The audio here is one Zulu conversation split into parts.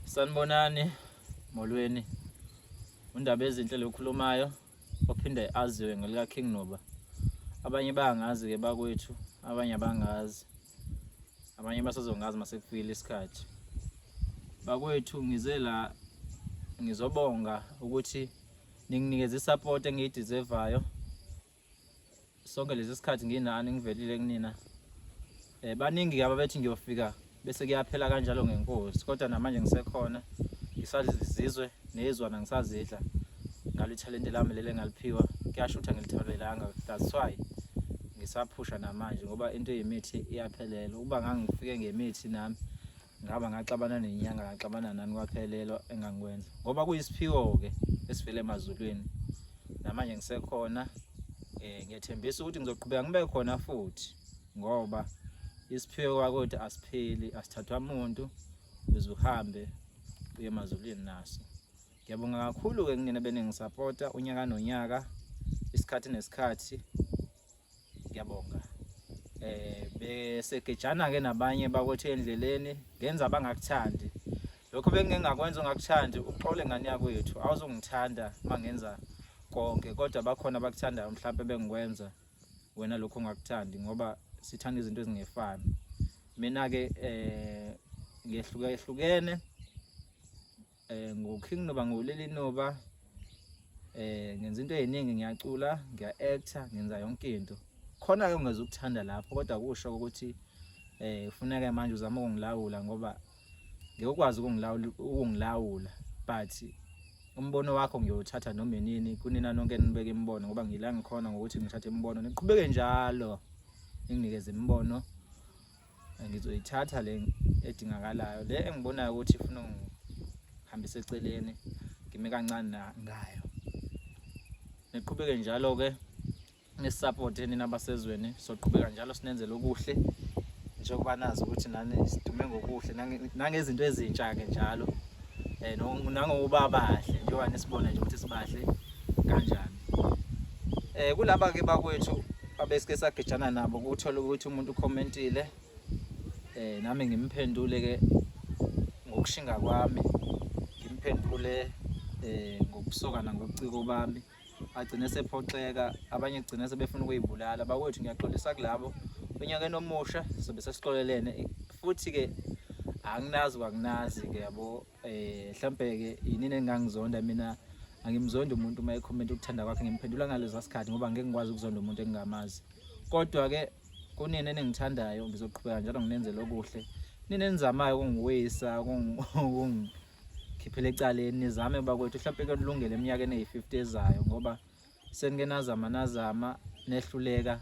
Sanibonani molweni. Undaba ezinhle lokhulumayo ophinde aziwe ngelika King Noba. Abanye bangazi ke bakwethu, abanye abangazi. Abanye basazongazi masekufile isikhathi. Bakwethu ngize la ngizobonga ukuthi ninginikeza isupport engiyideservayo. sonke lezi sikhathi nginani ngivelile kunina eh baningi ke ababethi ngiyofika bese kuyaphela kanjalo ngenkosi kodwa namanje ngisekhona ngisazizizwe nezwana ngisazidla ngalo ithalente lami lele ngaliphiwa kuyashutha ngilitholelanga that's why ngisaphusha namanje ngoba into yemithi iyaphelela ukuba ngangifike ngemithi nami ngihamba ngaxabana nenyanga ngaxabana nani kwaphelelwa engangikwenza ngoba kuyisiphiwo-ke esivele emazulwini namanje ngisekhona um ngiyethembisa ukuthi ngizoqhubeka ngibe khona futhi ngoba isiphiwo kwakuthi asipheli asithathwa muntu uze uhambe uye emazulwini naso ngiyabonga kakhulu-ke kunina beningisapota unyaka nonyaka isikhathi nesikhathi ngiyabonga eh besegejana ke nabanye bakwethu endleleni ngenza abangakuthandi lokho bengingakwenza ungakuthandi uxole ngani yakwethu awuzongithanda mangenza konke kodwa bakhona abakuthandayo mhlawumbe bengikwenza wena lokho ungakuthandi ngoba sithanda izinto ezingefani mina ke eh ngehluke ehlukene Eh nguKing Noba nguleli Noba. Eh ngenza into eziningi ngiyacula, ngiya actor, ngenza yonke into. Khona ke ungeza ukuthanda lapho kodwa kusho ukuthi eh ufuneka manje uzama ukungilawula ngoba ngeke ukwazi ukungilawula ukungilawula but umbono wakho ngiyothatha noma yini kunina nonke nibeke imibono ngoba ngila ngikhona ngokuthi ngithathe imibono niqhubeke njalo nginikeze imibono ngizoyithatha le edingakalayo le engibonayo ukuthi ifuna ngihambise eceleni ngime kancane ngayo niqhubeke njalo ke nisupport nina abasezweni soqhubeka njalo sinenzele okuhle njengoba nazi ukuthi nani sidume ngokuhle nangezinto ezintsha ke njalo eh nangokuba bahle njengoba nisibona nje ukuthi sibahle kanjani eh kulaba ke bakwethu abesike sagejana nabo ukuthola ukuthi umuntu ucommentile eh nami ngimphendule ke ngokushinga kwami ngimphendule eh ngokusoka nangobuciko bami agcine sephoxeka abanye kugcine sebefuna ukuyibulala bakwethu ngiyaxolisa kulabo onyakeni omusha sobe sesixolelene futhi ke anginazi kwakunazi ke yabo eh mhlambe ke yinini engangizonda mina angimzonda umuntu uma ecomment ukuthanda kwakhe ngimphendula ngalezo sikhathi ngoba ngeke ngikwazi ukuzonda umuntu engingamazi kodwa ke kunini eningithandayo ngizoqhubeka njalo nginenzele okuhle nini enizamayo ukungiwisa ukungikhiphela ecaleni nizame bakwethu mhlawumpe kulungele eminyakeni eyi-50 ezayo ngoba Senike nazama nazama nehluleka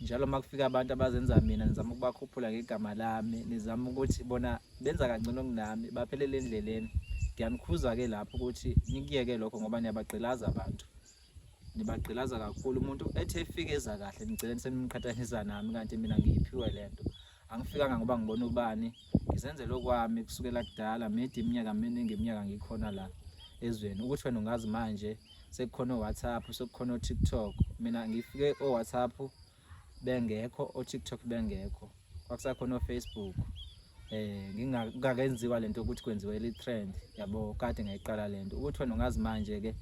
njalo uma kufika abantu abazenza mina nizama ukubakhuphula ngegama lami nizama ukuthi bona benza kangcono kunami baphelele endleleni ngiyanikhuza-ke lapho ukuthi nikuyeke lokho ngoba niyabagqilaza abantu nibagqilaza kakhulu umuntu ethi efikeza kahle nigcine senimqhathanisa nami kanti mina ngiyiphiwe le nto angifikanga ngoba ngibona ubani ngizenzele okwami kusukela kudala midi iminyaka miningi iminyaka ngikhona la ezweni ukuthi wena ungazi manje sekukhona o-whatsapp sekukhona o-tiktok mina ngifike o-whatsapp bengekho o-tiktok bengekho kwakusakhona o-facebook eh ngingakenziwa lento ukuthi kwenziwe le trend yabo kade ngayiqala lento ukuthi wena ungazi manje ke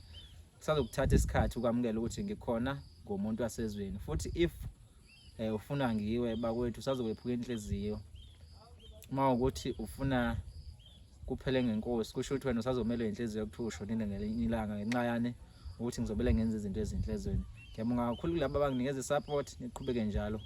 kusazokuthatha isikhathi ukwamukela ukuthi ngikhona ngomuntu wasezweni futhi if eh ufuna ngiwe bakwethu sazokwephuka inhliziyo uma ukuthi ufuna kuphele ngenkosi kusho ukuthi wena usazomelwe inhliziyo yokuthiwa ushonile ngelinye ilanga ngenxa yani ukuthi ngizobele ngenza izinto ezinhle ezweni ngiyabonga kakhulu kulabo abanginikeza i-support niqhubeke njalo